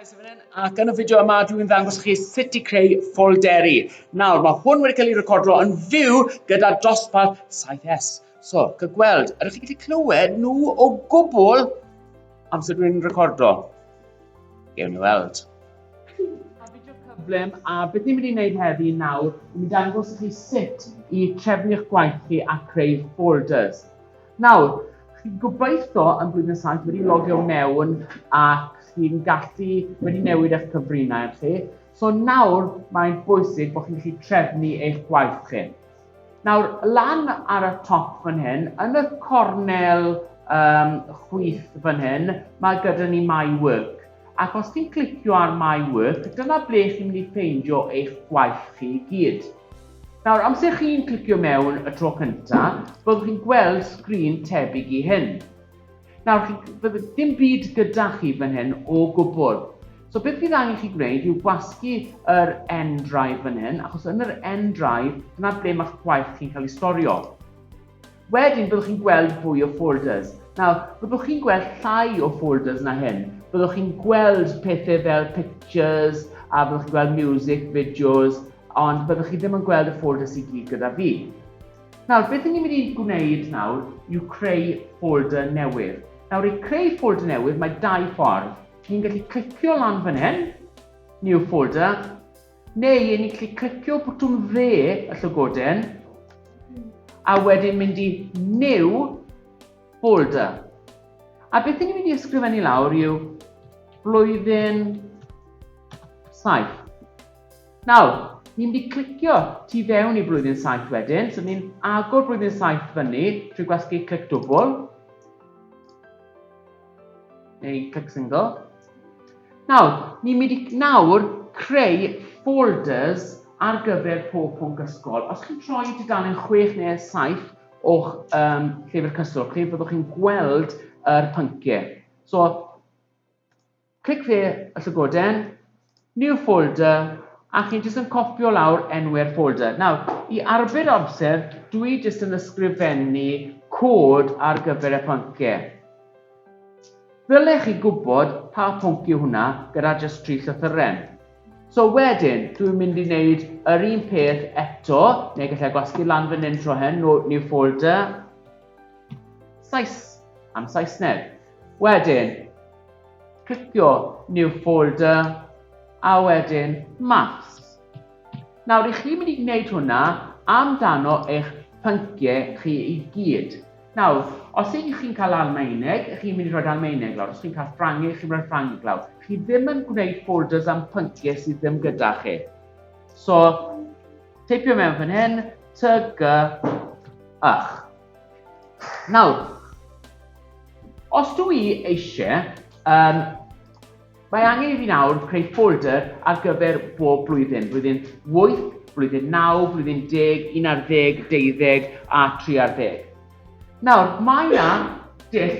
Ac yn y fideo yma, dwi'n ddangos chi sut i creu ffolderi. Nawr, mae hwn wedi cael ei recordo yn fyw gyda dosbarth 7S. So, cael gweld, ydych chi'n gallu clywed nhw o gwbl amser dwi'n recordo? Gewn ni weld. A fideo cyflym, a beth ni'n mynd i wneud heddi nawr, ni'n mynd i ddangos chi sut i trefnu eich gwaith chi a creu folders. Nawr, chi'n gobeithio yn Blwyddyn Saith wedi logio mewn ac chi'n gallu wedi newid eich cyfrinau chi. So nawr mae'n bwysig bod chi'n gallu trefnu eich gwaith chi. Nawr, lan ar y top fan hyn, yn y cornel um, chwith fan hyn, mae gyda ni My Work. Ac os ti'n clicio ar My Work, dyna ble chi'n mynd i ffeindio eich gwaith chi i gyd. Nawr, amser chi'n clicio mewn y tro cynta, byddwch chi'n gweld sgrin tebyg i hyn. Nawr, chi, bydd dim byd gyda chi fan hyn o gwbl. So beth fydd angen chi gwneud yw gwasgu yr end drive fan hyn, achos yn yr end drive, dyna ble mae'ch gwaith chi'n cael ei storio. Wedyn byddwch chi'n gweld fwy o folders. Nawr, byddwch chi'n gweld llai o folders na hyn. Byddwch chi'n gweld pethau fel pictures, a byddwch chi'n gweld music, videos, ond byddwch chi ddim yn gweld y folders i gyd gyda fi. Nawr, beth ni'n mynd i gwneud nawr yw creu folder newydd. Nawr, i creu folder newydd, mae dau ffordd. Chi'n gallu clicio lan fan hyn, new folder, Neu yn gallu clicio bwtwm dde y llygoden, a wedyn mynd i New Folder. A beth ni'n mynd i ysgrifennu lawr yw blwyddyn 7. Nawr, ni'n mynd i clicio tu fewn i blwyddyn 7 wedyn, so ni'n agor blwyddyn 7 fyny trwy gwasgu clic dwbl. Neu click single. Nawr, ni'n mynd i nawr creu folders ar gyfer pob pwnc ysgol. Os chi'n troi dudalen 6 neu 7 o'ch um, llyfr cyswllt chi, byddwch chi'n gweld yr pynciau. So, clic fe y llygoden, New folder, a chi jyst yn copio lawr enw'r folder. Nawr, i arbed amser, dw i jyst yn ysgrifennu cod ar gyfer y pynciau. Ddylech chi gwybod pa pwnc yw hwnna gyda jyst tri llythyren. So wedyn, dw i'n mynd i wneud yr un peth eto, neu gallai gwasgu lan fan hyn tro hyn, no, new folder, Sais, am Saesneg. Wedyn, clicio New Folder a wedyn Maths. Nawr, i chi mynd i wneud hwnna amdano eich pynciau chi i gyd. Nawr, os ych chi'n cael Almaeneg, ych chi'n mynd i roed Almaeneg lawr. Os chi'n cael Ffrangeg, ych chi'n rhoi Ffrangeg lawr. Chi ddim yn gwneud folders am pynciau sydd ddim gyda chi. So, teipio mewn fan hyn, ty, gy, ych. Nawr, os dw i eisiau, um, mae angen i fi nawr creu folder ar gyfer bob blwyddyn, blwyddyn 8, blwyddyn 9, blwyddyn 10, 11, 12 a 13. Nawr, mae yna dull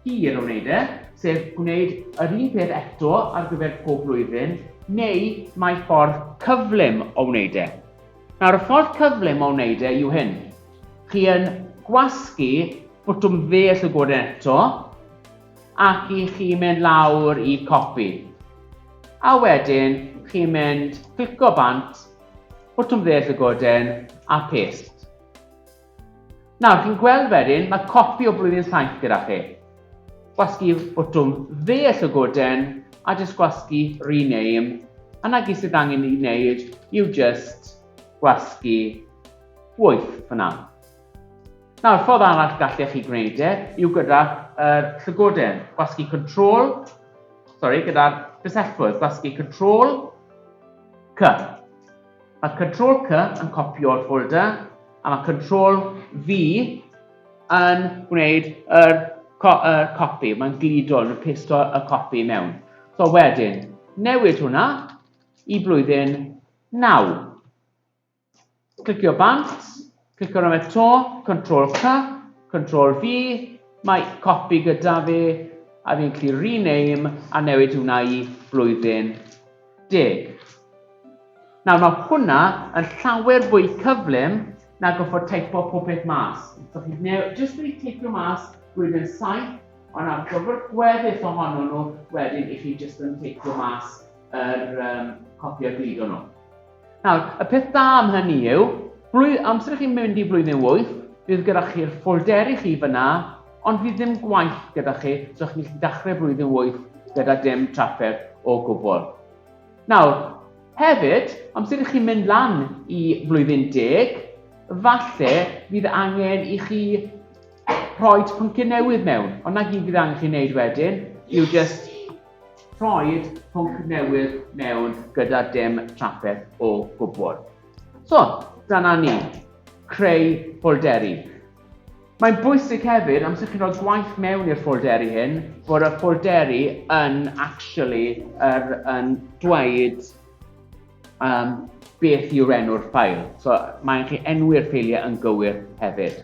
hir o wneud e, sef gwneud yr un peth eto ar gyfer pob blwyddyn, neu mae ffordd cyflym o wneud e. Nawr y ffordd cyflym o wneud e yw hyn. Chi yn gwasgu bwtwm dde y llygod eto, ac i chi mynd lawr i copy. A wedyn chi'n mynd clico bant, bwtwm dde y llygoden, a paste. Nawr, chi'n gweld wedyn, mae copi o blwyddyn saith gyda chi. Gwasgu botwm dde y llygoden a jyst gwasgu rename, a na gyd sydd angen i wneud yw jyst gwasgu wyth fyna. Nawr, ffordd arall gallech chi gwneud e yw gyda yr llygoden, gwasgu control, sorry, gyda'r bysellfwrdd, gwasgu control, cy. Mae Ctrl C yn copio'r ffolder, a mae Ctrl V yn gwneud yr, co yr copi, mae'n gludo yn pesto y copi mewn. So wedyn, newid hwnna i blwyddyn 9. Clicio bant, Cliciwch am eto, Control C, Control V, mae copi gyda fi, a fi'n gallu rename a newid hwnna i blwyddyn deg. Nawr mae hwnna yn llawer fwy cyflym na goffod teipo pob peth mas. So chi'n neu, jyst wedi teipio mas blwyddyn 7, ond ar gyfer gweddill ohono nhw, wedyn i chi jyst yn teipio mas yr um, copi a gludo nhw. Nawr, y peth da am hynny yw, blwydd, amser i chi mynd i flwyddyn wyth, bydd gyda chi'r ffolderi chi fyna, ond fydd ddim gwaith gyda chi, so chi'n gallu dechrau blwyddyn wyth gyda dim trafferth o gwbl. Nawr, hefyd, amser i chi mynd lan i flwyddyn deg, falle fydd angen i chi rhoi pynciau newydd mewn, ond na gyd fydd angen chi wneud wedyn, yw just Rhoed pwnc newydd mewn gyda dim trafferth o gwbl. So, dyna ni. Creu ffolderi. Mae'n bwysig hefyd, amser chi'n rhoi gwaith mewn i'r ffolderi hyn, bod y ffolderi yn actually er, yn dweud um, beth yw'r enw'r ffail. So mae'n chi enwi'r ffeiliau yn gywir hefyd.